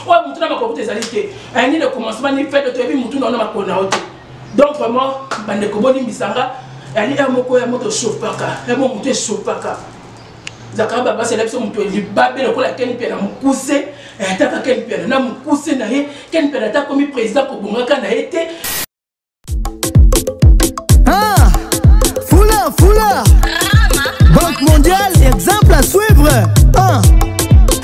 oyo motu na makolo kuta ezali te eh, nini commencement ni fete toyebi motu na ona makolo na yo te donc vraiment bandeko bolimbisanga yali ya moko ya moto esopaka ya mo motu esopaka zakara babasi ala biso moto libabe lokola keni mpiana mokuse eh, ataka keni mpiana na mokuse na ye keni mpiana ata akomi président kobongaka na ye te ah, fula fula banque mondiale exemple à suivre ah.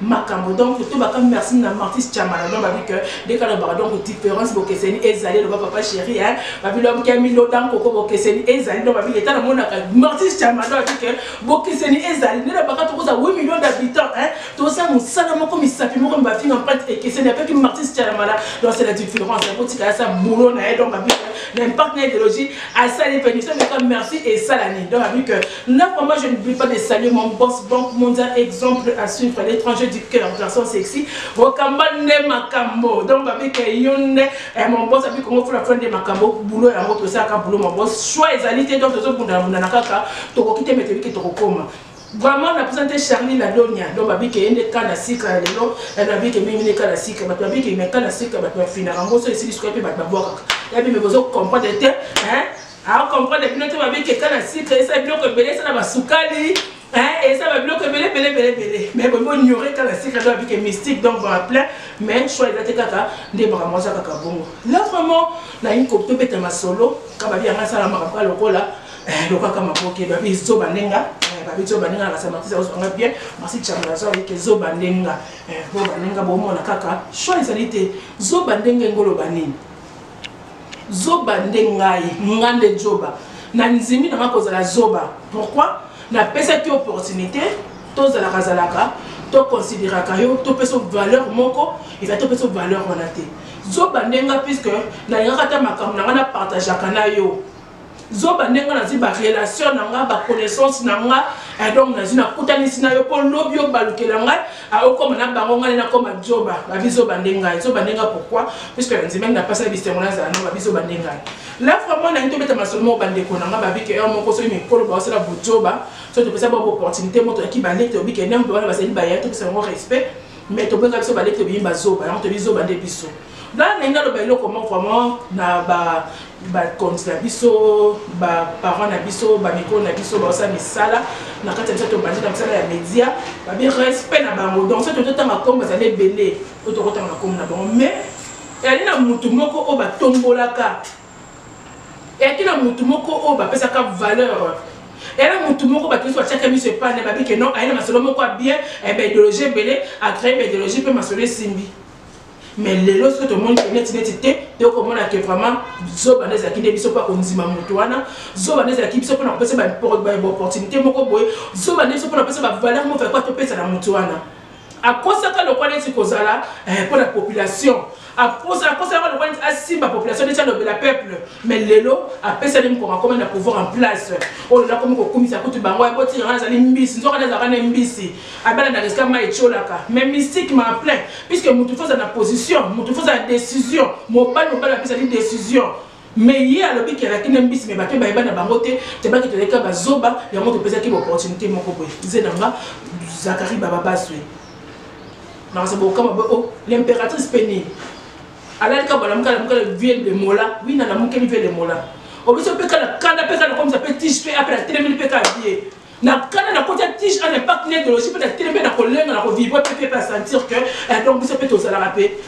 makambo donc tobaka merci na martis chamala donc babi que nde kalobaka donc différence bokeseni ezali eloba papa chéri hein babi lobaki ya milo dan koko bokeseni ezali donc babi leta namonaka martis chamala donc babi que bokeseni ezali nde lobaka tokozala 8 millions d'habitants hein tozosala mosala moko misapi moko mibafinga mpate ekeseni apeki martis chamala donc c'est la différence akotika asa boulot na ye donc babi que na impacte na idéologie asali mpe miso meka merci esalani donc babi que Non, moi je n'oublie pas de saluer mon boss Banque Mondiale, exemple à suivre, l'étranger du cœur, garçon sexy. Rokamba ne makambo. Donc, babi ke yonde, eh, mon boss, abi kongo fula fula de makambo, boulot ya moto, ça ka boulot mon boss. Choix et alité, donc, tozo bunda bunda na kaka, toko kite meteli ke toko koma. vraiment na présente charlie la donia donc babi ke yende kana sika ya lelo na babi ke mimi ne kana sika bato babi ke me kana sika bato bafinaka yango so esili suka mpe bato babwakaka yabi me bozo comprendre te hein a comprendre bino te babi keka na sucre esa biloko ebele esa na basukali esa babiloko ebele ebele ebele ebele mais bomi onyore kaka na sucre to babike mystique donc baa plein mais choix eza te kaka nde makambo aza kaka bongo là vraiment nalingi kobeta masolo ka babi yanga asala makambo ka lokola eh, lokaka maboke babi zoba ndenga eh, babi zoba ndenga nakasa matisi akozwanga bien masi chambo nazo ayike zoba ndenga eh, zoba ndenga bomona kaka choix ezali te zoba ndenge engoloba nini Zoba nde ngai, nga nde djoba. Na nzimi na nga kozala zoba. Pourquoi? Na pesaki yo opportunite, to zalaka zalaka, to consideraka yo, to pesa yo valeur moko, ezali to pesa yo valeur wana te. Zoba nde nga puisque na lingaka ata makambo na nga na partageaka na yo. zoba nde nga nazwi barelation na nga baconnaissance na nga eh, donc nazwi nakutanisi na yo mpo lobi obalukela ngai ah, okoma na bango ngai nakoma zoba babizoba nde ngai zoba nde ngai pourkui puiske nandimaki napasaki bisengo nazala no babizoba nde ngai la vraiment nangi tobeta masolo moko bandeko na nga babike heure moko soki mikolo baosala bozoba soki topesa bango opportunité moto yaki balete obike nde moto wana bazali baya topesa bango respect mais tobengaka biso balete obiyi bazoba yango tobizoba nde biso Nga na nga loba eloko moko vraiment na ba ba compte na biso ba parents na biso ba mikolo na biso ba osa misala na kati biso to bandi na misala ya media ba bi respect na bango donc ça tout tanga comme ça les belé ou to tanga comme na bon mais elle na mutu moko o ba tombolaka et qui na mutu moko o ba pesa ka valeur era motu moko bato nyonso batiaka miso epai na babi ke non aye na masolo moko ya bien eh baidéologie ebele acreye baidéologie mpe masolo esimbi mais lelo soki tomoni ke neti neti te toyoko komona ke vraiment zoba nde ezalaki nde biso mpo akondima moto wana zoba nde ezalaki biso mpona kopesa baopportunité moko boye zoba nde biso mpona kopesa bavaleur moko yakwa topesa na moto wana akosaka lokwa neti kozala mpo eh, na population akosalaka lokwa neti asimba population neti alobela peuple mais lelo apesani mokoma komanda pouvoir en place oyo nakomi kokumisa kutu bango yakotiaa azali mbisi nzoka nde azalaka ne mbisi abala na resika mai etiolaka mais mystique ma plein puisque motu fo aza na position motu fo aza na décision mobali mobali ape ezali décision mais ye alobi kelaki na mbisi me bato bayeba na bango te tebaki toleka bazoba yango topesaki baopportunité moko boye ze na nga zakari bababaswe nakasa bokama boye o oh, l'impératrice mpe nini alalika balamuka lamuka vie de mola wi na lamukeli vie de mola obiso mpe kala kanda mpe kala komisa mpe tige mpe apela telemeli mpe kala vie Na kanda na kota tige en impact na ideologie mpe na teleme na kolenga na kovibre mpe mpe mpe a sentir que eh, donc biso mpe tozalaka mpe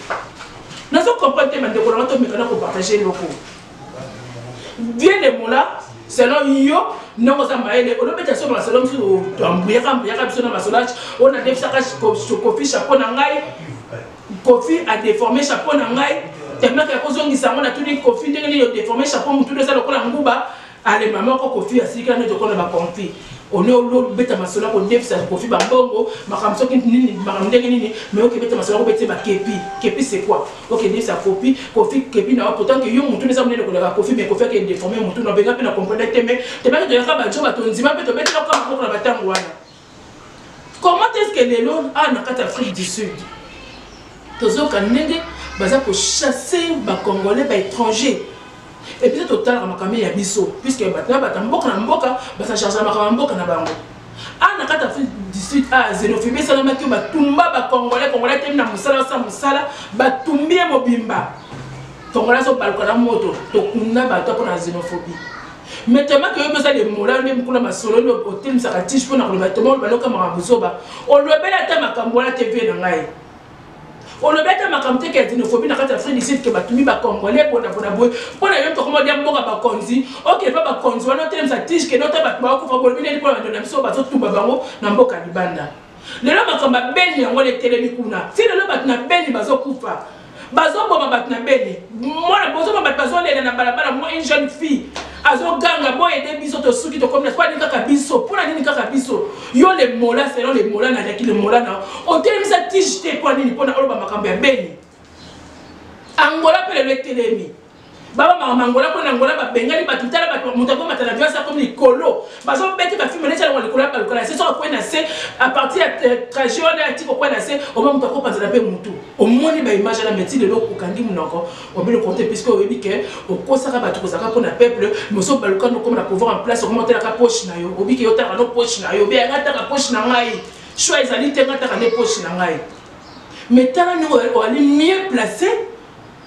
nazo comprendre te bandeko na nga tomeka na kopartage eloko bien de mola selon yo ndenge oza mayele olobeta so masolo mosusu ambuyaka mbuyaka biso na masolage oyo nadefisaka kofi chapeau na ngai kofi adeforme chapeau na ngai temaka ya kozongisa yango natuni kofi ndenge nini odeforme chapeau motu eza lokola nguba Ale mama ko kofi ya sika neti okola ba konfi one olobeta masolo kodefisa kofi bambongo makambo soki nini makambo ndenge nini me okebeta masolo kobete bakepi kepi c'est quoi okendefisa kopi kofi kepi na pourtant ke yo motu eza monene koleka kofi me kofi ake deforme motu na benga mpe na comprendre te me tebaki toyaka bajoba tondima mpe tobetela kaka moko na batango wana comment est ce que lelo awa na kati ya afrique du sud tozoyoka ndenge baza kochasse bacongolais baétranger epuis totalaka makambo ya biso puiske bato na bato ya mboka na mboka basachargea makambo ya mboka na bango awa na kati ya afrique du sud a xénophobie esalamaki batumba bacongolais congolais temi na mosala osa mosala batumbi ye mobimba congolais azobaluka na moto tokunda bato mpona xénophobie mais tellement que yo oza le mola nde mukuna masolo nde otemisaka tige mpo na koloba toma oloba loka makambo zoba olobeli ata makambo wana te vie na ngai olobi ata makambo te ke xenophobie na kati ya afrique du sud ke batumi bacongolais bonabona boye mpo na yo tokoma dia mboka bakonzi okende mpa bakonzi wana otelemisa tige kende ota bato baokufa bolobi nini mpo na bandelo na biso bazotumba bango na mboka libanda lelo makambo ya beni yango letelemi kuna ti lelo bato na beni bazokufa bazoboma bato na beni mwana bozoma bato bazolela na balabala mwa une jeune fille azoganga boyede biso tosuki tokomi mpo alingi kaka biso mpo na nini kaka biso yo le mola selon le mola na yaki le mola na otelemisa tige te mpo nini mpo na oloba makambo ya beni angola mpe lelo etelemi baba mama mangola mpo na ngola babengani bato tala bato moto akomata na viasa akomi likolo bazobeti bafilme neti alonga likolo abaluka na se soki akwei na se a partir ya euh, trajet wana atika okwei na se oma moto akopanzana mpe motu omoni baimage wana meti lelo okangi monoko obino konte puiske oyebi ke okosaka bato kozalaka mpo na peuple moso obaluka nokoma na pouvoir en place okoma otalaka poche na yo obiki yotaka no poche na yo beyanga taka poche na ngai choix ezali te ngataka nde poche na ngai mais tala ndenge oali mieux place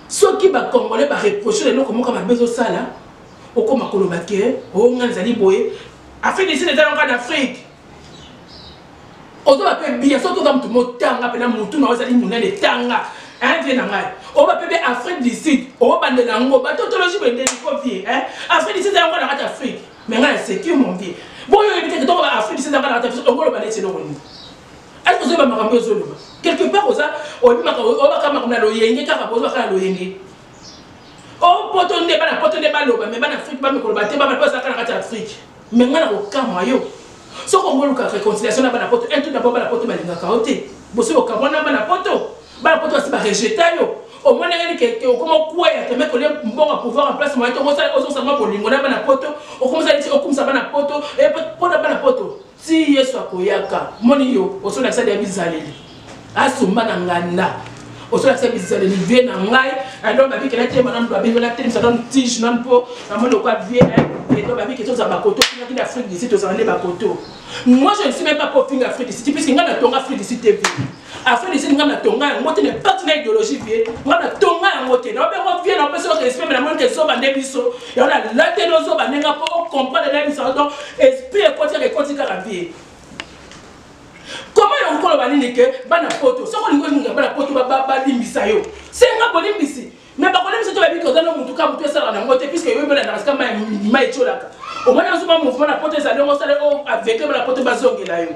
Soki ba congolais ba reprocher na eloko moko ya mabe ezosala, okoma koloba ke oh ngai nazali boye. Afrique du Sud eza kaka na Afrique. Ozoba pe bien soki oza mutu motanga pena mutu na yo ezali munene tanga hein vie na ngai. Oba pe be Afrique du Sud obandela yango ba tautologie boye ndenge ko vie hein. Afrique du Sud eza kaka na kati ya Afrique. Mais ngai na seki yo mon vieux. Boyebi te ke toko ba Afrique du Sud eza kaka na kati ya Afrique okoloba neti eloko nini? Est-ce que vous avez makambo ezo loba? Quelque part oza obimaka obaka makambo na loyenge kaka bozo kaka loyenge. Oh poto nde bana poto nde baloba mais bana Afrique ba mikolo ba te ba baloba zaka na kati Afrique. Mais ngana ko kamwa yo. Soko ngolu ka réconciliation na bana poto un tout d'abord bana poto balingaka yo te. Bosi ko kamwa na bana poto. Bana poto asi ba rejeta yo. omoni ngani ke okoma okueya teme kolie mbongo ya pouvoir en place moye te ozosala mwa bolingo na bana poto okomisa neti okumisa bana poto mpo na bana poto Ti Yesu akoyaka. Omoni yo osolakisa deja bizaleli. Asumba na nganda. Osolakisa bizaleli vie na ngai. Alors babi kela te manan babi wala te msanon tige nan po na moni okwa vie hein. Et donc babi keto za bakoto kina kina Afrique d'ici to za nde bakoto. Moi je ne suis même pas pour finga Afrique d'ici puisque ngana tonga Afrique d'ici TV. afin de dire nga na tonga yango te mais pas na idéologie vie nga na tonga yango te na bengo vie na pesa respect mais na moni ke zoba nde biso yango na late no zoba nde nga po o comprendre na biso donc esprit ekoti ka ekoti kaka vie comment yango koloba nini ke bana poto soko olingi olingi bana poto balimbisa yo senga bolimbisi mais bakolembisa to bayebi ke oza no motu ka motu esalaka nango te puisque yo ebelandaka sika mai etiolaka omoni ozoba mouvement na poto ezali yango osala o aveugle bana poto bazongela yo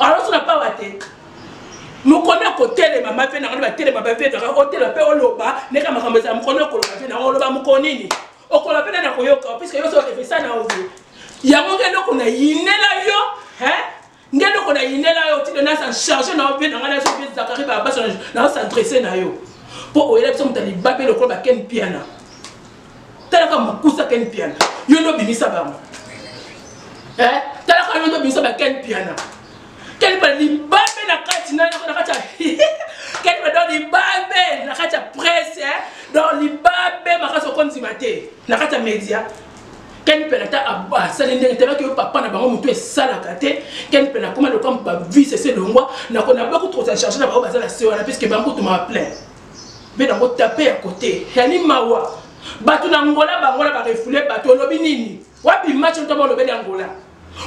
alors suna pawa te mokoni akotelema mabe na ngai batelema babe na ngai otelema mpe oloba ndeka makambo ezala mokoni okoloba mpe na ngai oloba mokonini okoloba mpe nani akoyoka puiske yo so efesa na ovie yango ngai eloko na yinela yo nde eloko na yinela yo tino nasa charge na yo mpe na ngai naso mpe zakari babasa na osadresse na yo mpo oyela biso moto ya libabe lokola bakeni piana talaka mokusa ken piana yo nde obimisa bango eh, talaka yo nde obimisa ba ken piana ken piana libabe na kati na kati ya ken piana donc libabe na kati ya presse eh. donc libabe makasi okondima te na kati ya media ken mpena ata asali ndenge te baki yo papa na bango motu esalaka te ken mpena akoma lokola bavise se longwa nakoki kotokosa charge na bango baza na se wana puiske bango tuma plein mpe na kotape ya kote yani mawa bato na ngola bango na barefule bato olobi nini wapi match ntoma olobeli ya ngola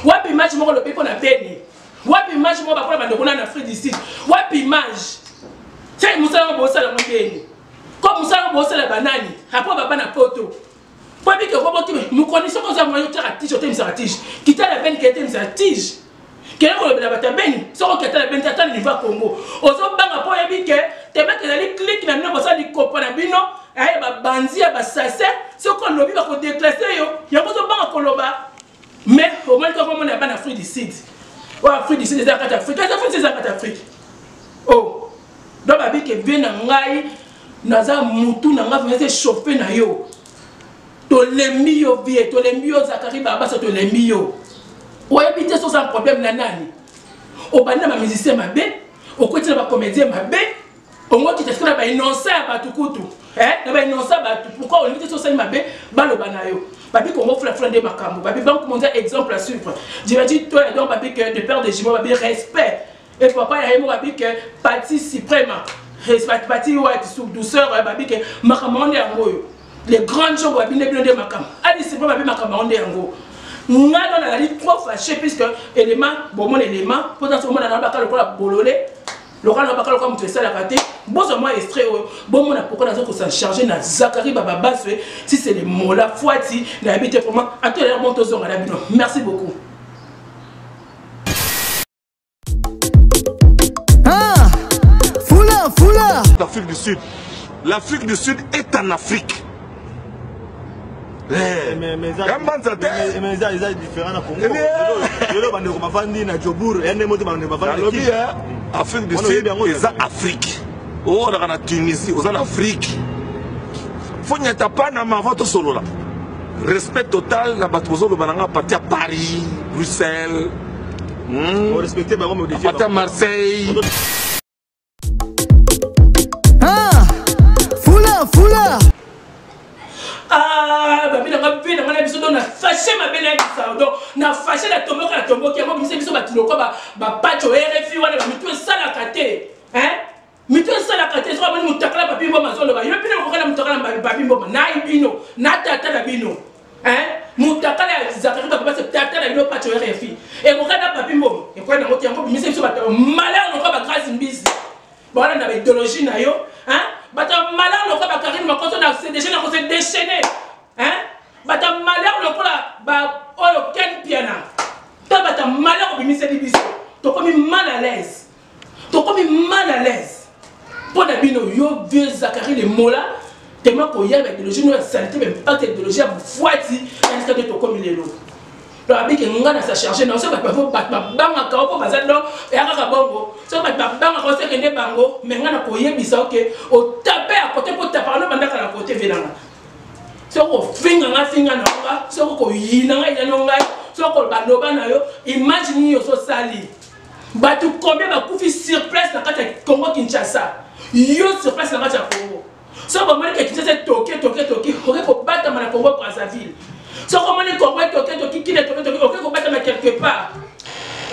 wapi match moko olobi mpo na beni wapi match moko bakola bandeko na afrique du sud wapi image sai mosala yango bosala yango beni ko mosala yango bosala banani apo baba na poto Babi ke kobo kime mukoni soko oza mwa yotia ka tige otemisa ka tige kita la beni ke temisa tige kele ko lobela bata beni soko kita la beni tata liva Congo ozo banga po yebi ke teme ke zali clique na bino bosa likopa na bino aye ba banzi ya ba sase soko lobi ba ko declasser yo yango ozo banga ko loba mais omoni kaka omona bana afrique du sud oyo oh, afrique du sud eza kati afrique eza afrique eza kati afrique o oh. donc babike vie na ngai naza mutu na ngai vraimen echauffe na yo tolembi yo vie tolembi yo zakari babasa tolembi yo oyebi te soza problème na nani obandi na bamusicien mabe okweti na bacomédien mabe ongokita sikoyo na bainonsa ya bato kutu eh, na bainonsa ya bato pourkui olingi te sosali mabe baloba na yo babi kongo fulafula nde makambo babi banque mondial exemple à suivre jebati toya donc babi que de père de jimo babi respect et papa ya ye mo babi que pati suprema pati wati sou douceur eh, babi que makambo yango nde yango oyo les grandes gens babi nde bino nde makambo adi suprema babi makambo yango nde yango ngai nona nazali trop fâché puisque élément bomona élément mpo ntanso omona na bakala lokola bolole lokola nabaka lokola moto esalaka te bozwa mwa estre oyo bomona pourkoi naza kosa charge na zakari bababaswe si c'est le mola fuati nayebi te comment atolela bon tozonga na bino merci beaucoup ah, Fula, fula. L'Afrique du Sud. L'Afrique du Sud est en Afrique. kambanza te eza différent na congo lelo bandeko bafandi na jobour ya ndenge moko te bandeko bafandi afrique du sud eza afrique oolaka na tunisie oza na afrique fo nyata panama avant tosolola respect total na bato bozoloba na nga parti ya paris bruxelles hmm? parti ya marseille Ah, fula, fula. Ah, babi na nga pe na nga na biso do na fâché ma belle na saudo na fâché na tomboka na tomboki yango biso biso bato lokola ba ba pacho RFI wana ba mitu esalaka te hein mitu esalaka te soki boni mutakala babi mboma azoloba yo pe na kokala mutakala babi mboma na bino na tata na bino hein mutakala ya zakari bato base tata na bino pacho rfi ekokai na papi mbomi ekokai nango te yango bimisa biso bato malheur lokola bagrasi mbizi bawana na baidologie na yo hein bato ya malheur lokola bakarine makoso na cdg na kose déchaîne hein bato ya malheur lokola ba oyo ken piana to bato ya malheur obimiseli biso tokomi mal à l'aise tokomi mal à l'aise mpo na bino yo vieux zakari le mola tema koya na ideologie no ya salite ba impact ya ideologie ya bofuati yandika nde tokomi lelo donc abike ngai na sa charge na oso bato bafo bato babangaka o mpo baza donc eya kaka bongo soki bato babangaka oso ekende bango me ngai na koyebisa oke otape ya kote mpo tapaka no bandaka na kote venanga soki ofinga ngai finga na nga soki koyina ngai yinano ngai soki koloba loba na yo image nini oso osali bato combien bakufi sur place na kati ya congo kinshasa yo sur place na kati ya congo soki bamoni ke kinshasa etoki etoki etoki oke kobatama na congo brazzaville soki omoni congo etoki etoki kina etoki etoki oke kobatama quelque part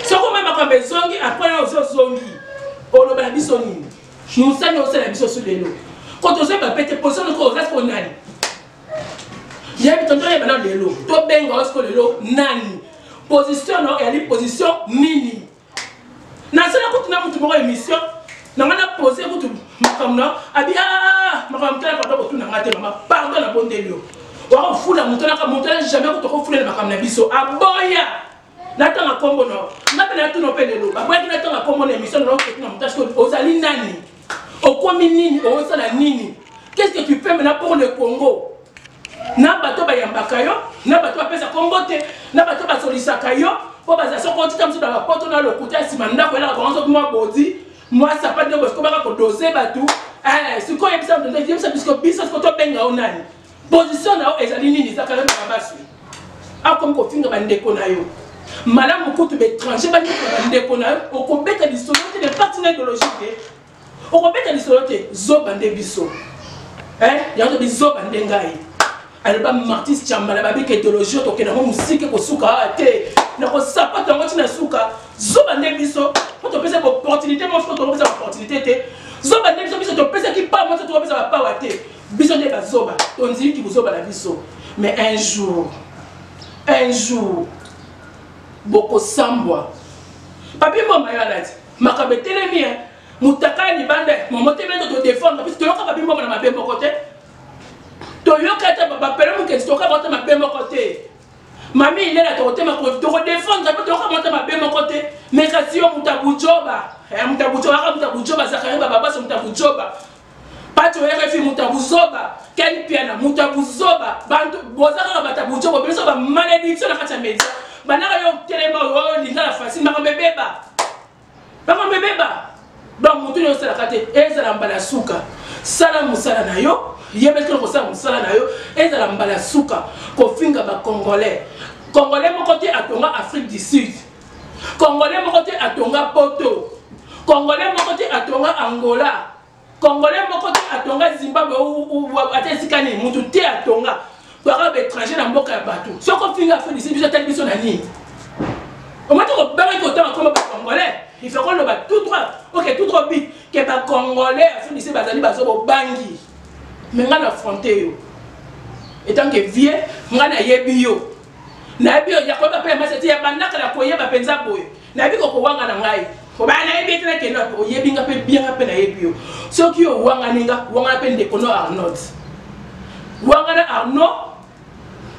soki omoni makambo ezongi apres yo ozozongi oloba na biso nini mosani osala biso su lelo koto ozoi bapete pozonoko oza konani yebi tonto yeba na lelo tobenga osiko lelo nani position na oyali position nini nasala kutu na motu moko émission na ngai napose kutu makambo na abi ah, ah, ah, makambo motala papa kotuna ngai te mama pardon nabondeli yo wakofula moto naka moto na jamais kutu okofulele makambo na biso aboya natanga nkombo na yo nga mpe natuna yo mpe lelo baboyaki natanga nkombo na émission na okotuna moto asko ozali nani okomi nini ozosala nini qu'est ce que tu fais maintenant pour le congo na bato bayambaka yo na bato bapesa nkombo te na bato basolisaka yo mpo bazala soko otika mosusu na bapoto na lokuta nsima ndako elaka bango soki mwa bodi mwa sapate nde bosikobaka kodose bato eh, sikoyo yebisa biso biso siko tobenga yo nani position na yo ezali nini eza kala na babasi akomi kofinga bandeko na yo malamu kutu baétranger bafinga bandeko na yo okobeta lisolo te na parti na idéologie te okobeta lisolo te zoba nde biso yango tobi zoba nde ngai aloba martis chambala babika idéologie tokende yango mosike kosuka awa te nakosapata yango ntina suka zoba nde biso po topesa baopportunité mosuko tokopesa baopportunité te zoba nde biso biso topesaki pawa mosuko tokopesa bapawa te Biso nde ba zoba, to ndimi ki buzoba na biso. Mais un jour, un jour, boko sambwa. Papi mboma yo alati, makambo etelemi hein. Mutakala libanda, momo te bendo to défendre, biso toyoka papi mboma na mabe moko te. Toyoka te ba pele mukesi toyoka ba te mabe moko te. Mami ilela to te mako to défendre, to yoka ba te mabe moko te. Mais kasi yo mutabujoba, eh mutabujoba, mutabujoba zakariba baba so mutabujoba. Pacho RFI muta buzoba Ken Piana muta buzoba bantu boza kaka bata bujo bo biso ba malédiction na kati ya media banaka yo telema oyo linga la facile makambo ebeba makambo ebeba donc mutu nyo osalaka te ezala mbala suka sala mosala na yo yebetela kosala mosala na yo ezala mbala suka kofinga bacongolais congolais moko te atonga afrique du sud congolais moko te atonga poto congolais moko te atonga angola congolais moko te atonga zimbabwe ata esika nini motu te atonga baka baétranger na mboka ya bato soki ofinga afundisi biso atali biso na nini omati kobangaki kotanga koma bacongolais il faut koloba tout droit ok tout droit bit ke bacongolais afundisi bazali bazo bobangi me ngai na affronte yo etant ke vie ngai nayebi yo nayebi yo ya koyeba mpe ya masi ete ya bandaka na koyeba mpenza boye nayebi kokowanga na ngai obaya nayebi ete nakende wapi oyebi nga mpe bia nga mpe nayebi yo soki owangani nga wangana mpe ndeko no arnold wangana arnaud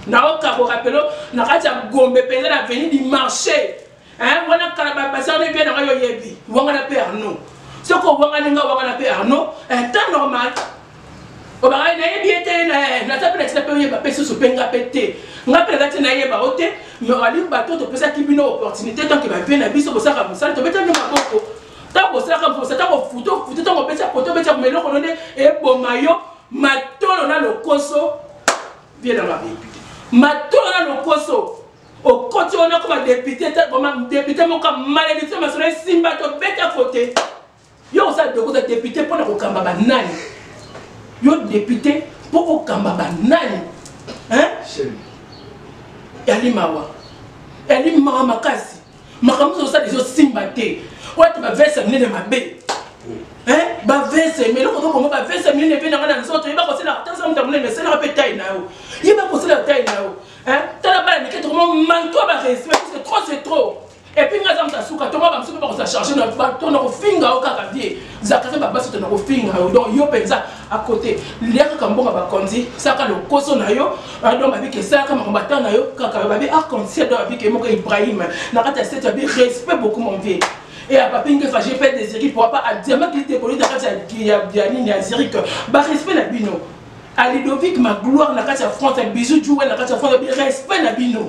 naokakoka pelo na kati ya gombe mpenza na veni du marché eh wana kala ba basana ne pe na yo yebi wanga na pe arno soko wanga ninga wanga na pe arno eh temps normal obaka na yebi ete na eh, na tape na tina pe yeba pe susu pe nga pe te nga pe na tina yeba o te mais ali bato to pesa ki bino opportunité tant que ba pe na biso bosaka musala to beta ni maboko tant bosalaka mposa tant kofuto futo tant kopesa poto beta meloko no nde eboma yo matolo na lokoso bien na mabebi matolo na lokoso okoti wana ko ba député te koma député moko malédiction masolo esimba to beta kote yo oza doko oza député mpo na kokamba banani yo député mpo okamba banani yali mawa yali mawa makasi makambo ozosala ezosimba te wati bavese ya minene mabe bavese me eloko tokongo bavese ya minene mpe nanga na nzoto yeba kosala tanza moto ya monene esalaka mpe tai na yo yeba kosala tai na yo Hein? Tala bana mike tokoma manque ba respect parce que trop c'est trop. Et puis ngaza mtasuka toma ba msuka bakosa charger na ba tona kofinga o kaka vie. Zakaza ba basi tona kofinga yo donc yo penza à côté. Liaka kambonga ba konzi saka lokoso na yo donc ba bike saka makombata na yo kaka ba bi a konzi donc ba bike moko Ibrahim. Na kata c'est ba respect beaucoup mon vieux. et à papi ngefa j'ai fait des ziri pourra pas à diamant qui était connu dans la ziri que ba respect la bino à Ludovic ma gloire na kati ya France bisous Joël na kati ya France respect na bino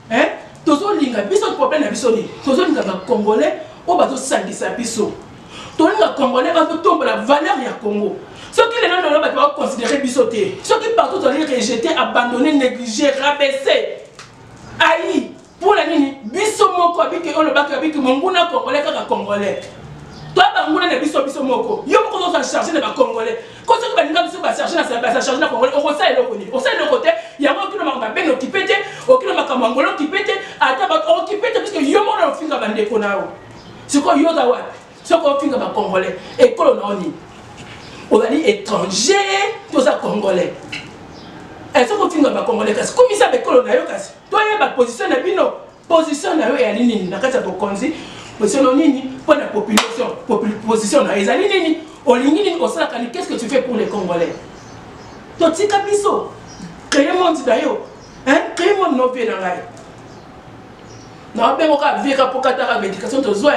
hein tozolinga biso problème na biso nini tozolinga ba congolais oyo bazosangisa biso tolinga congolais bazotombola valeur ya congo soki lelo lelo bato bakoconsidere biso te soki partout tozali rejete abandonne néglige rabaisse ayi mpo na nini biso moko abiki oyo olobaki abiki monguna congolais kaka congolais to banguna na biso biso moko yo moko ozozwa charge na bacongolais ko soki baninga biso bacharge bacharge na congolais okosala eloko nini osala eloko te yango okino makambo ya bene okipe te okino makambo ya ngolo okipe te ata bato okipe te puiske yo moko na ofinga bandeko na yo sikoyo yo oza wapi soki ofinga bacongolais ekolo na yo nini ozali étranger toza congolais eh, soki ofinga bacongolais kasi komisa bekolo na yo kasi toyeba position na bino position na yo eyali nini na kati ya bokonzi position nini mpo na population position na yo ezali nini olingi nini osalaka ni qu'est ce que tu fais pour les congolais totika biso créer monde na yo créer monde na opie na ngai naobengo kaka vie kaka mpo kataka baéducation tozwa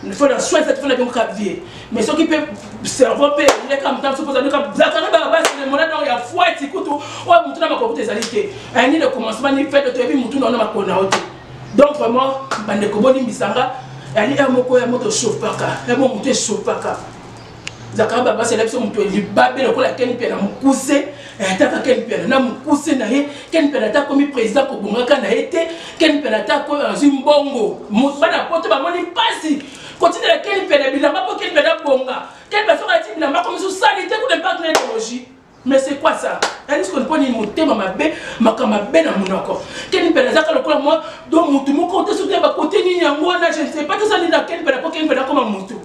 il faut na soin cette fona donc ka vie mais soki pe cerveau pe ile ka mtam soki ozali ka zaka na ba basi le mona donc ya foi ti kutu o mutu na makokuta ezali te un ni le commencement ni fait to yebi mutu na na makona ote donc vraiment bande ko boni misanga ali un moko ya moto chauffaka ya mo mutu chauffaka zakara baba asala biso moto ya libabe lokola ken mpiana mokuse eh, ataka ken mpiana na mokuse na ye ken mpiana ata akomi président kobongaka na ye te ken mpiana ata azwi mbongo bana poto bamoni mpasi kotindela ken mpiana bilamba mpo ken mpiana abonga ken mpiana soki ati bilamba akomi so sali te kuna mpaka na ideologie Mais c'est quoi ça Anis qu'on poni motema mabe, makama mabe na munoko. Ken pela zaka lokola moi, do mutu moko te soutien ba côté ni yango na je ne sais pas tout ça ni na ken pela ko ken pela comme mutu.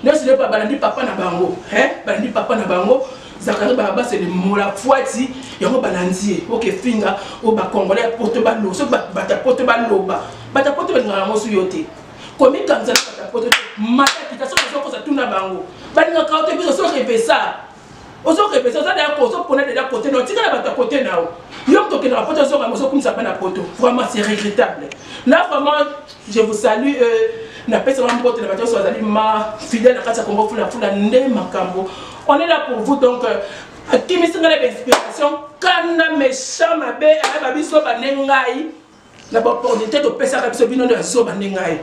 Ne se pas balandi papa na bango, hein? Balandi papa na bango. Zakari Baraba c'est le mola fuati yango balandi OK finga au ba congolais poto ba lo so ba ta poto ba loba ba ta poto ba ngala mosu yote komikanisa na bato ya poto te mata kita soki ozokosa tuna bango balingaka yo te biso soki epesa ozokepesa oza deya ozopona deja kote na otikala bato ya kote na yo yo moto okendaka poto ozonga ozokumisa bana poto vraiment c'est regrettable là vraiment je vous salue euh, napesa wa mbote na bato nyonso bazali ma fidèle na kati ya kongo fulafula nde makambo on est là pour vous donc euh, akimisi ngai na bainspiration kanda méchant mabe ayeba biso bane ngai na ba opportunité topesaka biso bino nde ya zoba nde ngai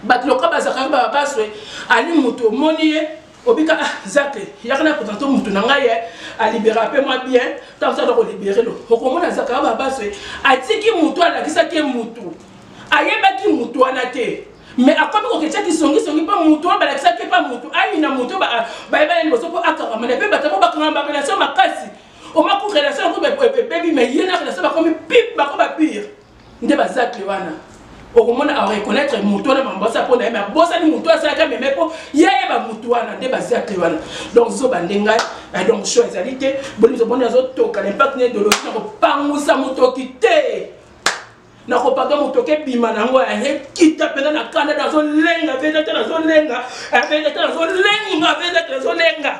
bato loka bazalaka baba baswe ali moto omoni ye obika ah zake yaka na présente moto na ngai ye alibera mpe mwa bien ntango saka kolibere lo okomona azalaka baba baswe atiki moto alakisaki ye moto ayebaki moto wana te mais akomi koketya kisongisongi mpo moto oyo balakisaki mpe moto ayina moto bayebani liboso mpo akangamana mpe bato yango bakangama barelatio makasi omaku relation yango ebebi mais ye na relation bakomi pip bako ba pire nde bazakle wana okomona areconnaitre motu wana mambosa mpo na ye me abosani motu asalaka meme mpo ye ayeba motu wana nde bazakle wana donc zoba nde ngai eh, donc sho ezali te bonizoboni azotoka na impact na idologi na kopangusa motoki te nakopaka motoki ebima na yango ekita mpenza na kanda nazolenga mpenza te nazolenga mpenza te nazolenga mpenza te nazolenga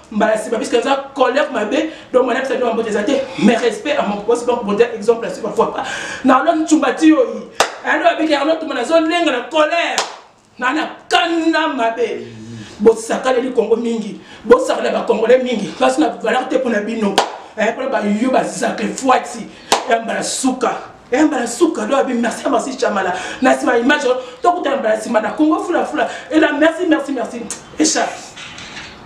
mbala nsima puisque eza colère mabe donc mwana bisa nionga mbote eza te mais respect à mon poste donc bote exemple asi parfois pas na olongi cumbati yoyi ando abiki yango tuma nazolenga na colère na na kanda mabe bosakaleli kongo mingi bosakala bacongolais mingi mpasi na valeur te mpo na bino eh, mpona bayo bazaka efuati ya eh, mbala suka eh, mbala suka do abi merci merci chamala na nsima image tokutana mbala nsima na kongo fulafula ela merci merci merci echappe